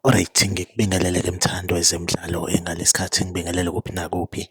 Alright, ngikubingelele ke mthando wezemidlalo engalesikhathi ngibingelele kuphi nakuphi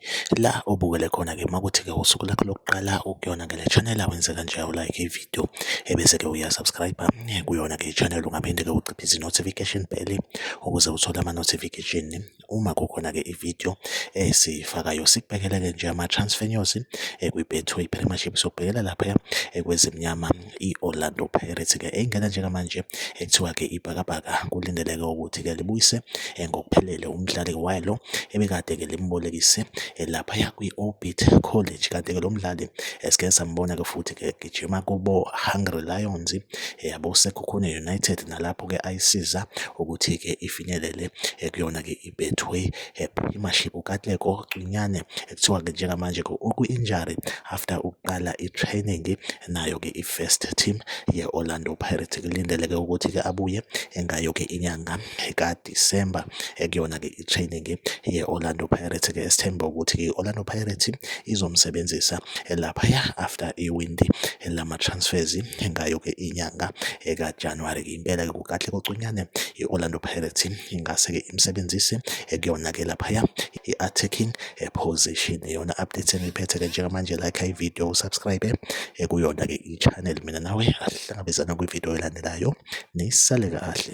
la obukele khona ke makuthi ke usuku lakho lokuqala ukuyona ngale channel awenze kanje awulike ivideo video ebese ke uya subscribe kuyona ke channel ungaphinde ke uciphe izi notification bell ukuze uthole ama notification uma kukhona ke ivideo esifakayo sikubhekele ke nje ama transfer news ekwi Betway Premiership sokubhekela lapha ekwezimnyama i Orlando Pirates ke engena njengamanje ekuthiwa ke ibhakabhaka kulindeleke ukuthi ke libuyise ngokuphelele umdlali walo ebekade ke limbolekise lapha kwi Orbit College kanti ke lo mdlali Esike sambona-ke futhi-ke egijima kubo-Hungry Lions, yabo uSekhukhune United nalapho-ke ayisiza ukuthi-ke ifinyelele kuyona-ke iBetway Premiership. UKatlego Cwinyane kuthiwa-ke njengamanje-ke ukwi-injury after ukuqala i-training nayo-ke i-first team ye-Orlando Pirates. Kulindeleke ukuthi-ke abuye engayo-ke inyanga kade. December ekuyona-ke i-training ye-Orlando Pirates-ke esithemba ukuthi i-Orlando Pirates izomsebenzisa laphaya after iwindi lama-transfers ngayo-ke inyanga ekaJanuwari. Impela-ke kukahle kocunyane i-Orlando Pirates ingase-ke imsebenzise ekuyona-ke laphaya i-attacking position. Iyona update engiyiphethe-ke njengamanje like ividiyo usubscribe ekuyona-ke i-channel mina nawe Sihlangabezana kwividiyo elandelayo. Nisale kahle.